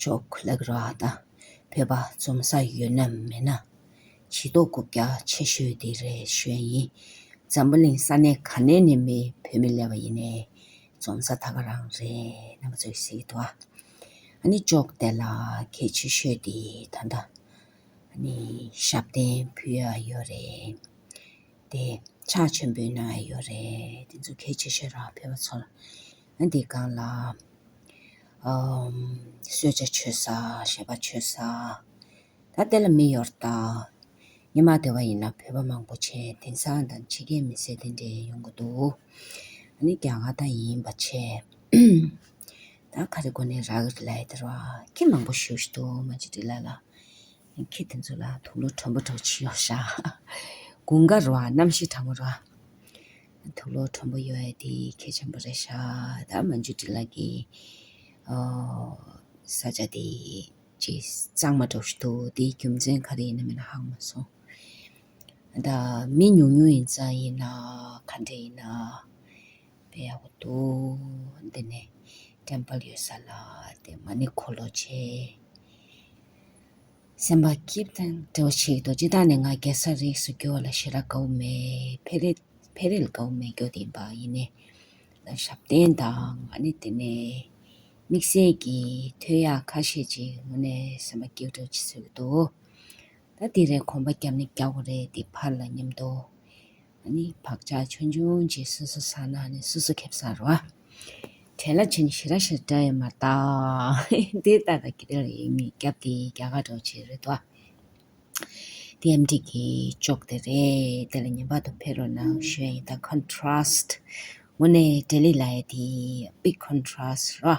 ཕྱོགས་ལེགས་ར་དང་བོད་པ་འཛོམས་ས་ཡོད་ན་མེད་ན་བྱི་དོག་རྐུབ་བཀྱག་ཆེ་ཤོས་དེ་རེ་ཞོན་ཡིན་འཛམ་བུ་གླིང་ས་གནས་ག་ནས་ནས་མི་བོད་མི་ལས་པ་ཡིན་ནའི་འཛོམས་ས་ད་ག་རང་རེད་རྣམ་པ་ཚོས་ཟེར་གི་འདུག་ཨ་ནི་ཅོག་དེ་ལ་གལ་ཆེ་ཤོས་དེ་ད་ལྟ་ནི་ཞབས་བརྟན་ཕུལ་ཡ་ཡོད་རེད་དེ་ཕྱག་ཆེན་པོའི་གནང་ཡ་ཡོད་རེད་དེ་ཚོ་གལ་ཆེ་ཤོས་ར་བོད་པ་ཚོར། ཨ་འདི་གང་ལ། གསོལ་ཇ་མཆོད་ས་ཞེས་པ་མཆོད་ས། ད་དེ་ལ་མི་ཡོར་ད། ཉི་མ་དེ་བ་ཡིན་ན་བོད་པ་མང་པོ་ཆེ་དེང་སང་དང་ཕྱི་རྒྱལ་མི་སེར་དེ་འདྲས་ཡོང་གི་འདུག་ཨ་ནི་རྒྱ་གར་དང་ཡིན་པ་ཆེ། ད་ག་རེ་གོ་ནས་རག་གི་ལས་དེར་བ་ཁྱི་མང་པོ་ཞུགས་ཤི་འདུག་མ་ཅི་འདྲི་ལ་ལ། ཁྱི་དེ་ཚོ་ལ་དུག་ལོ་དྲོན་པོ་དྲོ་ཕྱི་ཡོར་ཤག། དགུང་ཀ་རོ་ཨ་གནམ་གཤིས་དྲང་པོ་རོ་ཨ། ཐུགས་བློ་དྲོན་པོ་ཡོད་ཡ་དེ་གལ་ཆེན་པོ་རེད་ཤག་ད་མ་འཇུ་དྲི་ལགས་ཀྱི་ས་ཆ་དེ་ཅི་གཙང་མ་གྲབས་ཤིག་འདུག་དེའི་རྒྱུ་མཚན་ག་རེ་ཡིན་ན་མེད་ན་ཧང་མ་སོང་ད་མི་ཉུང་ཉུང་ཡིན་ཙང་ཡིན་ན་ག་འདྲ་ཡིན་ན་བེ་ཡག་པོ་འདུག་འདི་ནས་དྲན་པ་ཡོད་ས་ལ་དེ་མ་ནི་འཁོར་ལོ་ཆེ། སེམས་དཔའ་ཀིར་དང་བྲལ་བ་ཆེ་རྡོ་རྗེ་དག་ནི་ང་རྒྱལ་སར་རིགས་སུ་གྱུར་བ་ལ་ཤེས་རབ་དགའ་བོ་མེད་འཕེལ་རེ་འཕེལ་རེ་ལ་དགའ་བོ་མེད་རྒྱུ་དེ་ཡིན་པ་ཡིན་ནས་ལ་ཞབས་བརྟན་དང་ཨ་ནི་དེ་ནས་དམིགས་བསལ་གྱི་ཐོད་ཡག་ཁ་ཤས་ཅིག་ངོ་ནས་སེམས་དཔའ་ཀིར་དུ་བྱེད་སྲོལ་གྱི་འདུག་ད་དེ་རེ་གོམས་པ་བརྒྱབ་ནི་རྒྱག་གོ་རེ་འདི་ཕར་ལ་སྙམ་དུ། ནི་བག་ཆགས་ཆོས་འབྱུང་རྗེས་སོ་སོ་ས་ན་ནི་སོ་སོ་ཁེབས་སར་རོ། དེ་ལ་བྱས་ནས་ཞི་ར་ཞེས་སྒྲ་ཡིས་མ་བཏགས། འདི་ལྟ་སྟེ་དེ་ལ་ཡིད་མི་རྒྱབ་སྟེ་རྒྱ་གར་འགྲོ་བྱེད་རེད་དོ། དེ་ཡང་འགྲིག་གི་ཅོག་དེ་རེད། དེ་ལ་ཉན་པ་དང་ཕེ་རོ་ནང་ཞོན་ཡིན་ད Contrast། ངོ་ནས་འབྲས་ལེགས་ལ་ཡ་དེ། Big Contrast། རོ།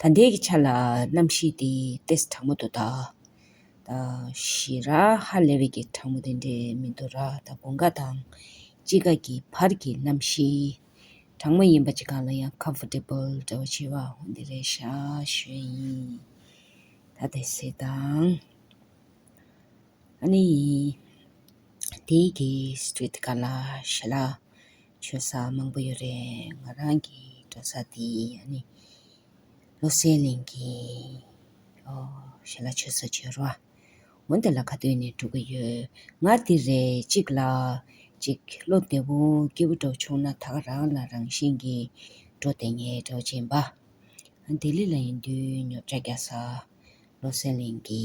ད་འདས་ཀྱི་ཆ་ལ་རྣམ་ཤེས་དེ་ཏེས་དྲང་མོ་དུ་གདའ། ད་ཞེས་ར་ཧ་ལས་བས་ཀྱི་དྲང་མོ་དེ་འདྲས་མི་འདུག་ར་ད་གོ་འགའ་དང་ཅི་ག་གི་བར་གྱི་རྣམ་ཤེས་དྲང་མོ་ཡིན་པ་ཅི་གང་ལ་ཡང Comfortable འདྲ་བ་བྱེད་པ་འོ་འདི་རེད་ཤ་ཞོན་ཡིན། ད་དེ་སེ་དང། ཨ་ནི་ཡིན། དེའི་གི Street ག་ལ་ཞེ་ལ། བྱོན་ས་མང་པོ་ཡོད་རེད་ང་རང་གི་འགྲོ་ས་དེ་ཡིན་ནི་བློ་གསལ་གླིང་གི་ཞལ་ལག་མཆོད་ས་བྱོན་རོགས་ཨ་འོན་ཏེ་ལ་ཁ་སྟོན་ནས་འགྲོ་གི་ཡོད་ངར་དེ་རེད་གཅིག་ལ་གཅིག་བློ་བདེ་བོ་སྐྱིད་བོ་འགྲོ་ཆོག་ན་ད་ག་རང་ལ་རང་བཞིན་གྱི་འགྲོ་བདེ་ངའི་གྲོགས་མཆན་པ་ལྡི་ལི་ལ་ཡིན་དུས་ཉོབ་ཆ་རྒྱག་ས་བློ་གསལ་གླིང་གི།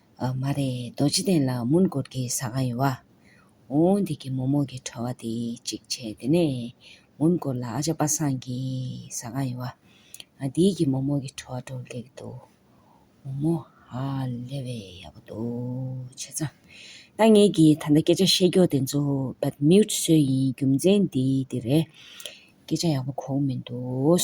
མ་རེད་རྡོ་རྗེ་གདན་ལ་མུན་སྐོར་གྱི་ཟ་ཁང་ཡོད། འོ་འདི་གི་མོག་མོག་གི་བྲོ་བ་དེ་གཅིག་བྱས་དེ་ནས་མུན་སྐོར་ལ་ཨ་ཅག་པ་སངས་ཀྱི་ཟ་ཁང་ཡོད། འདི་གི་མོག་མོག་གི་བྲོ་བ་བྲོ་ལེགས་འདུག་འོ་མོ་ཧ་ལས་བས་ཡག་པོ་འདུག་བྱས་ཙང་ད་ངེད་ཀྱི་ད་ལྟ་སྐད་ཆ་བཤད་མགྱོགས་དེ་ཚོ But Mute བཟོས་ཡིན་རྒྱུ་མཚན་འདི་འདི་རེད་སྐད་ཆ་ཡག་པོ་གོ་མི་འདུག།